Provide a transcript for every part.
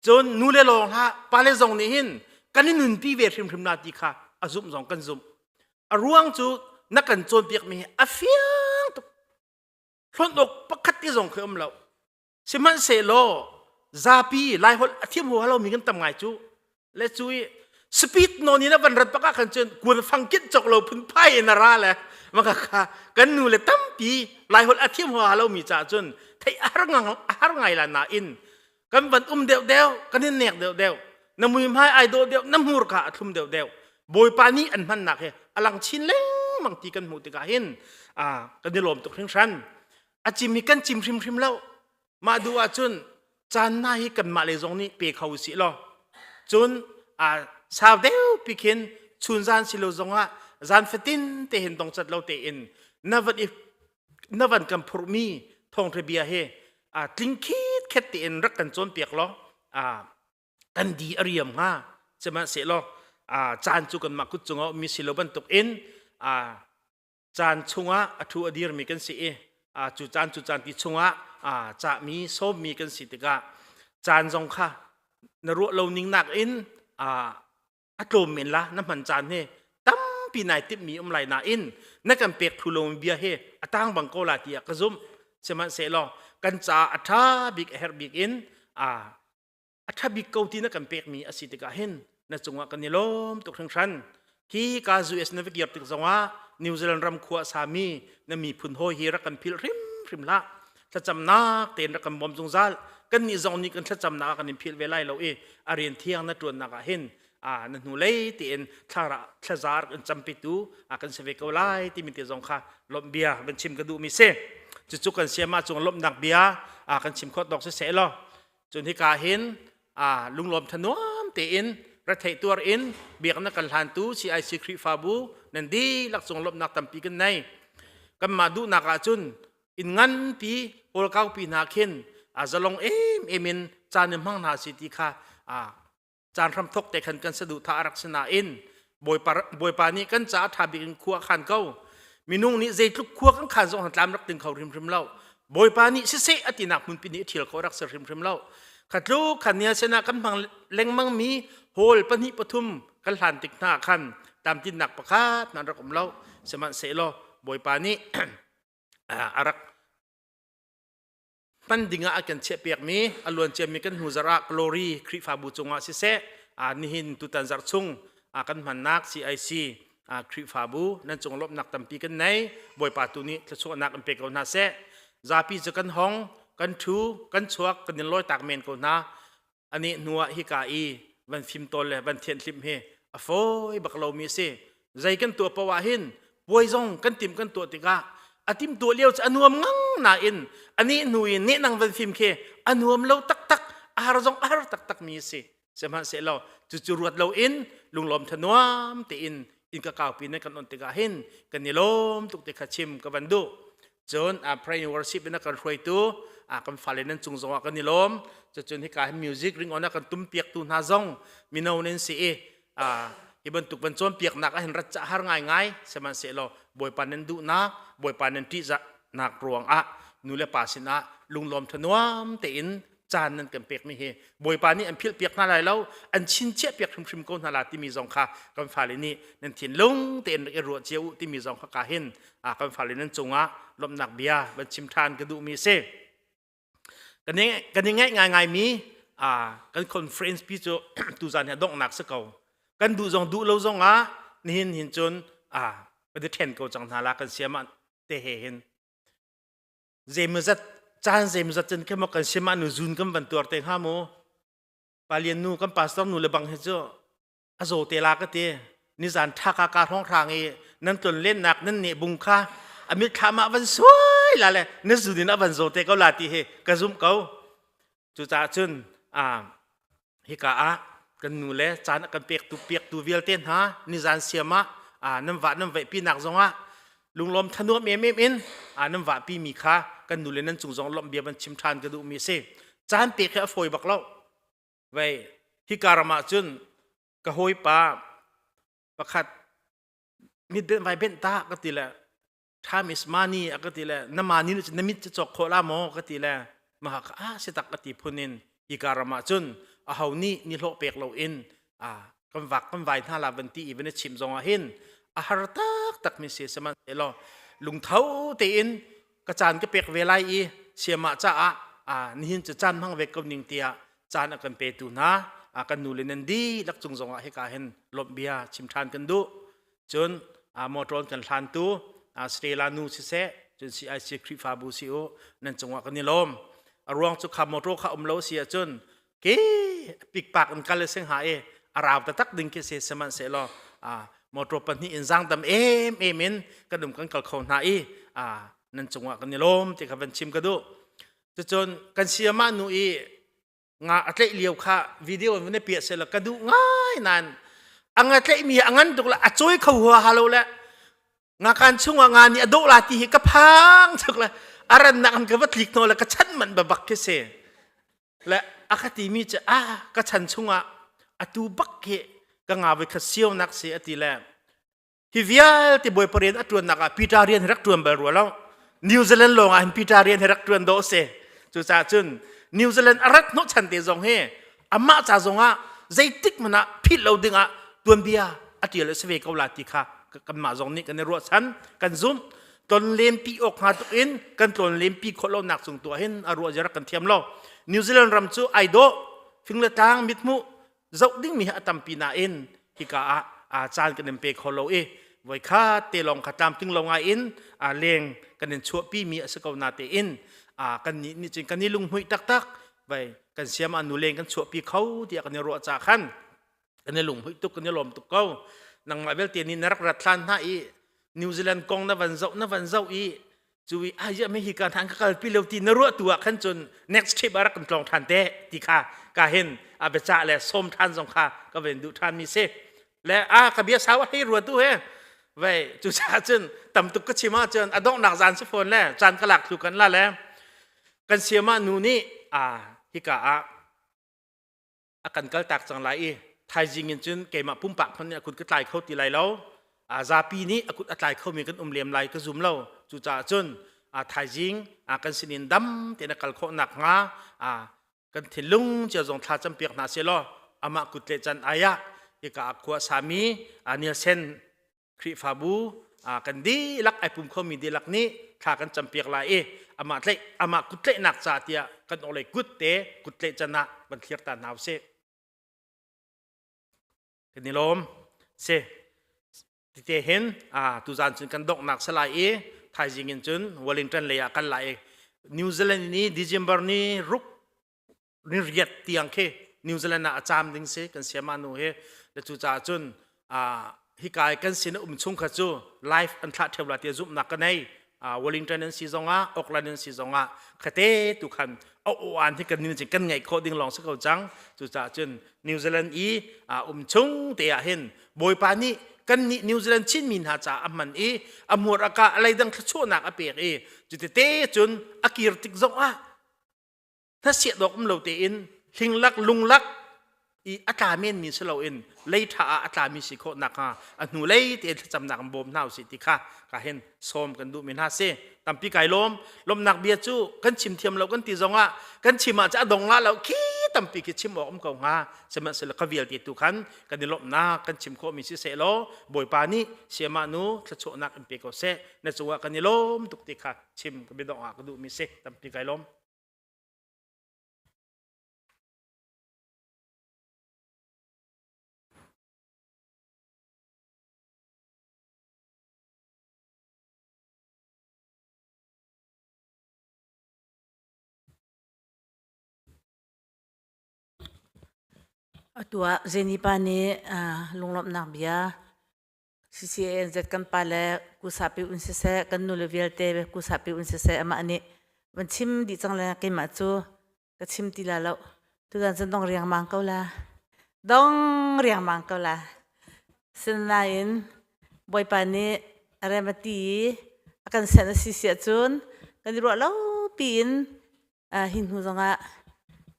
Cun nu le lawng hlah pale zong nih hin kan i nunpi ve hrimhrim na ti kha a zumh zong kan zumh. A ruang cu na kan cawnpiakmi hi a fiang tuk. Hlonh awk pakhat te zong khi um lo. Sihmanhsehlaw zapi Laiholh a thiam huhalo mi kan tam ngai cu le cui speed no ni na van rat bak ah khan cun kun fang kit chok lo phun phai in a ra le maka kha kan nu le tampi lai hol a thiam hoa lo mi cha cun thei har ngang har ngai la na in kan van um deuh deuh kan in nek deuh deuh na mui mai ai do deuh na hmur kha a thlum deuh deuh bawipa ni an hman nak he alang chin leng mang ti kan hmu tikah hin a kan i lom tuk hring hran a chim hi kan chim hrim hrim lo Mah duh ahcun caan hna hi kanmah le zong nih pe kho usih law cun aa sau deupi khin chun zan si lo zongah zan fatin te hin dongcat lo tein na van i na van kan phurhmi thawngṭha bia hi aa tling khit khet tein rak kan cawnpiak law aa kan di a riam hnga sihmanhsehlaw aa caan cu kanmah kut cung a ummi si lo bantukin aa caan chungah a thu a dirmi kan si i cu caan cu caan ti chungah cahmi sawmmi kan si tikah caan zong kha na ruah lo ning nakin a tlawm men la na hman caan he tampi nai timmi um lai nain na kan pek thu lomi bia he a tang bang ko la tiah ka zumh sihmanhsehlaw kan ca a ṭha bik a herh bik in a ṭha bik ko ti na kan pekmi a si tikah hin na cungah kan i lawm tuk hringhran hi ka US na va kir tik zongah New Zealand ram khua a sami na miphun hawi hi rak kan phil hrimhrim hlah thlacamnak tein rak kan bawm zungzal kannih zong nih kan thlacamnak ah kan in phil ve lai lo i a rian thiang na ṭuannak ah hin na hnu lei tein thlara thlaza rak in campitu kan si ve ko lai timi te zong kha lawmh bia van chim ka duhmi si cucu kan siama cung lawmhnak bia kan chim khawt dok si se law cun hika hin lunglawm thanuam tein retheih tuar in biaknak kan hlantu CIC Khrihfabu nan dihlak cung lawmhnak tampi kan nei kanmah duhnak ahcun in nganpi kawl kaupi hna khin zalong em em in caan hmang hna si ti kha caan hram thok te khan kan saduhthah a rak si nain bawipa bawipa nih kan caah ṭha bik in khua a khan ko minung nih zeitluk khua kan khan zong tlam rak ding kho hrimhrim lo bawipa nih siseh a tinak hmunpi nih ṭhial kho rak si hrimhrim lo khatlu khan nia sinah kan hmang lengmang mi hall pahnih pathum kan hlan tik hna khan tamtinnak pakhat nan rak um lo sihmanhsehlaw bawipa nih a rak tan dingah a kan chiahpiakmi a luanciami kan hnu zarah glory khrihfabu cungah siseh nihin tutan zarh chung kan hmannak CIC khrihfabu nan cung lawmhnak tampi kan nei bawipa tu nih thluachuahnak in pe ko hna seh zapi cu kan hong kan thu kan chuak kan in lawi tak men ko hna A neh hnu ah hika i van fimtawl le van thianhlim hi a fawi bak lomi a si. Zei kan tuah poah ah hin puai zong kan tim kan tuah tikah a timtuah lio cu a nuam ngang nain a nih hnu i nehnang van fim khi a nuam lo taktak a har zong a har taktakmi a si. Sihmanhsehlaw cucu ruat loin lunglawm thanuam tein in ka kaupi nan kan on tikah hin kan i lawm tuk ti kha chim ka van duh cun a prayer worship in a kan hruaitu a kan fale nan cung zongah kan i lawm cucun hika hi music ring on a kan tum piaktu hna zong mino nan si i hi bantuk ban cawn piaknak a hin rat cah har ngaingai sihmanhsehlaw bawipa nan duhnak bawipa nan ṭihzahnak ruangah nu le pa sinah lunglawm thanuam tein caan nan kan pekmi hi bawipa nih an philh piak hna lai lo an chinchiah piak hrimhrim ko hna la timi zong kha kan fale nih nan thin lung tein rak i ruah cia u timi zong kha ka hin kan fale nan cungah lomhnak bia van chim ṭhan ka duhmi si kan i ngaih ngaingai mi kan conference pi cu tuzan hi donghnak si ko kan duh zong duh lo zong ah nihin hin cun ka ti ṭhen ko cang hna la kan siam te he hin zeimazat caan zeimazat cun khamah kan sim ah nu zun kan van tuar te hnga mu palian nu kan pastor nu le bang he cu a zo te la ka ti ni zan tha ka ka hong rang i nan tlon len nak nan ne bung kha amit thama van suai la le na zun in avan zo te ko la ti he ka zum ko Cucaah cun hika ah kan nu le caan a kan pektu piaktu vialte hna nizan siam ah nan vah nan vaihpinak zongah lunglawm thanuam em em in nan vahpi mi kha kan nu le nan cung zong lawmh bia van chim ṭhan ka duhmi a si. Caan pek hi a fawi bak lo. Vei hika ram ah cun ka hawipa pakhat mit benh vai benh ta ka ti le time is money a ka ti le na mani na mit cu cawk kho la maw ka ti le ma ka a si tak ka ti phun in hi ka ram ah cun a ho nih ni hlo pek lo in a kan vak kan vai hna la van ti i van chim zong ah hin a har tak tak mi se saman te lo lungtho te in ka caan ka pek ve lai i siama ca ah a nihin cu caan hmang ve ko ning tia caan a kan pe tu hna a kan nu le nan di lak cung zong ah hika hin lomh bia chim than kan du cun motor kan hlantu Australia nu siseh cun CIC Khrihfabu si u nan cungah kan i lawm a ruang cu kha motor kha um lo si ahcun ke pikpak in kal se hnga i a rau taktak ding khi se sihmanhsehlaw motor pahnih in zang dam em em in kan um kan kal kho hna i nan cungah kan i lawm ti kha van chim ka duh cucun kan siamah nu i nga a tleih lio kha video in na piah sela ka duh ngai nan anga tleih mi a ngan tuk la a coi kho hua halo le nga kan chungah nga ni a do la ti hi ka phang chuk le aran nak an ka va tlik no le ka chan man ba bak ke se le a ka ti mi che a ka chan chungah a tu bak ke ka nga voi kha siau nak se ati le hi vialte bawi parian a ṭuannak ah Peter rian hi rak ṭuan bal rua lo New Zealand lawng ah hin Peter rian hi rak ṭuan dawh a si cucaah cun New Zealand a rat hnawhchan te zong hi amah ca zong ah zeitik hmanh ah philh lo ding ah tuanbia a ṭial a si ve ko la ti kha kanmah zong nih kan i ruahchan kan zumh ton lempi awk hnga tuk in kan tlawn lempi khawh lonak cung tu ah hin a ruah zia rak kan thiam lo New Zealand ram cu ai dawh fing le tlang mithmuh zoh dingmi hi a tampi nain hika ah aa caan kan in pe kho lo i voi kha te lawng kha tlamtling lo ngai in aa leng kan in chuahpimi a si ko na tein aa kan nih nih cun kan i lunghmuih taktak vai kan siam ah nu leng kan chuahpi kho tiah kan i ruah ca khan kan i lunghmuih tuk kan i lawm tuk ko nangmah vialte nih na rak rat hlan hna i New Zealand kong na van zoh na van zoh i Cuwi ahia me hi ka than ka kalpi lo ti na ruah tu ah khan cun next trip ah rak kan tlong than te ti kha ka hin a biaca le som than zong kha ka ven duh than mi si le a ka bia sau hei ruat tu he vei cu ca cun tam tuk ka chim ah cun a dongnak zan si phone le chan ka lak thu kan la le kan siama nu nih a hika ah a kan kaltak cang lai i thaizing in cun keimah pumpak hmanh nih a kut ka tlai kho ti lai lo zapi nih a kut a tlai khomi kan um lem lai ka zum lo cucaah cun thaizing kan sinin dam tein a kal khawh nakhnga kan thinlung cia zong thla campiak hna sehlaw amah kut le can ai ah hika ah khua sami nielsen Khrihfabu ah kan dihlak ai pum khomi dihlak nih thla kan campiak lai i amah, tlaih, amah kut tlaihnak ca tiah kan orhlei kut te kut tlaih can ah van thlir ta hna u sih. Kan i lawm. Si. Tite hin tuzan cun kan donghnak salai i thaizing in cun Wellington lei ah kan lai i New Zealand ni December ni ruk ni riat tiang khi New Zealand ah a cam ding si kan siama nu hi le cu caah cun hika i kan sin um chung kha cu life an thlah theo la tia zumhnak ka nei Wellington an si zongah Auckland an si zongah khate tu khan a uan hi kan nin kan ngai kho ding long si ko cang cu caah cun New Zealand i um chung te ah hin bawipa nih kan nih New Zealand chin mi hna ca aman i amuar aka alai dang thlachuahnak a pek i cu tete cun a kir tik zongah hnasiah dawk um lo tein hlinglak lunglak i a tla men mi si loin leitha ah a tlami si khawh nakhnga a hnu lei tein thlacamnak in bawm hna usih ti kha ka hin sawm kan duh men hna si tampi kai lawm lomnak bia cu kan chim thiam lo kan ti zongah kan chim ah a dong la lo khi tampi khi chim awk um ko hnga sihmanhsehlaw ka vialte tu khan kan i lomnak kan chim khawh mi si seh law bawipa nih siama nu thlachuahnak in pe ko seh na cungah kan i lawm tuk ti kha chim ka biadong ah ka duh mi si tampi kai lawm Atu ah Jenny pa nih lunglawmhnak bia CCANZ kan pa le kusapi un siseh kan nu le vialte kusapi un siseh amah nih van chim dih cang le keimah cu ka chim ti la lo tutan cun dong riangmang ko la dong riangmang ko la sinain bawipa nih remati i a kan senh a si siah cun kan i ruah lo piin Ah, hi hnu zongah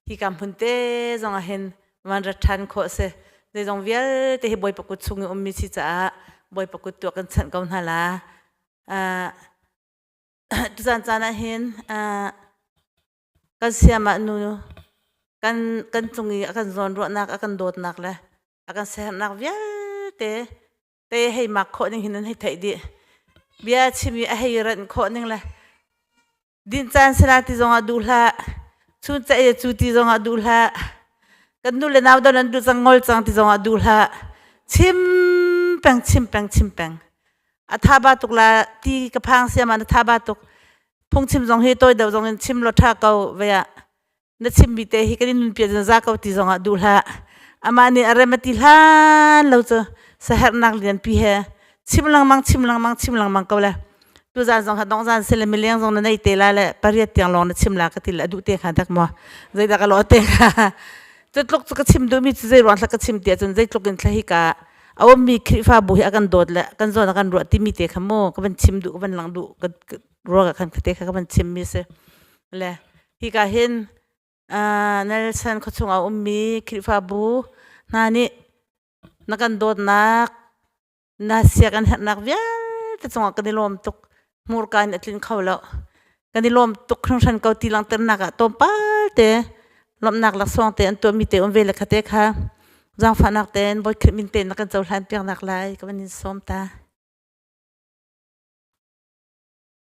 hikam hun te zong ahin van rat ṭhan khawh a si. Zeizong vialte hi Bawipa kut chung i ummi si caah Bawipa kut tuah kan chanh ko hna la. Ah, tuzan caan ahhin ah, kan siamah nu kan, kan cung i a kan zawn ruahnak, a kan dawtnak le a kan siaherhnak vialte te hei mak khawh ning hin nan hei theih dih. Bia chim i a hei ranh khawh ning le Dinh caan sala ti zongah duh hlah. Chun caih le cu ti zongah duh hlah. Kan nu le nau dang nan duh cang ngol cang ti zongah duh hlah. Chim peng, chim peng, chim peng. A tha ba tuk la ti ka phang siam ah na tha ba tuk. Phungchim zong hi tawi deuh zong in chim law tha ko vaya. na chimmi te hi kan in nunpia ziaza ko ti zongah duh hlah. Amah nih a rem a ti hlan lo cu saherhnak lianpi he chim lengmang chim lengmang chim lengmang ko le tu zan zong kha dong zan si le mileng zong na nei te la le pariat tiang lawng na chim la ka ti le a duh te kha dak maw zeidak a law te kha cu tluk cu ka chim duhmi cu zei ruang thlak ka chim ti ahcun zeitluk in thlahi ka a ummi Khrihfabu hi a kan dawt le kan zawn a kan ruah timi te kha mu ka van chim duh ka van lang duh ka ruang ah khan ka te kha ka van chimmi si le Hika hin Nelson khuachung ah ummi Khrihfabu hna nih na kan dawtnak, na siak an herhnak vialte cungah kan i lawm tuk. Hmurka in a tlin kho lo. Kan i lawm tuk hringhran ko ti langhternak ah tlawmpal te lawmhnak laksawng te an tuahmi te um ve le kha te kha zaangfahnak tein Bawi Khrih min tein na kan cohlan piaknak lai ka van in sawm ta.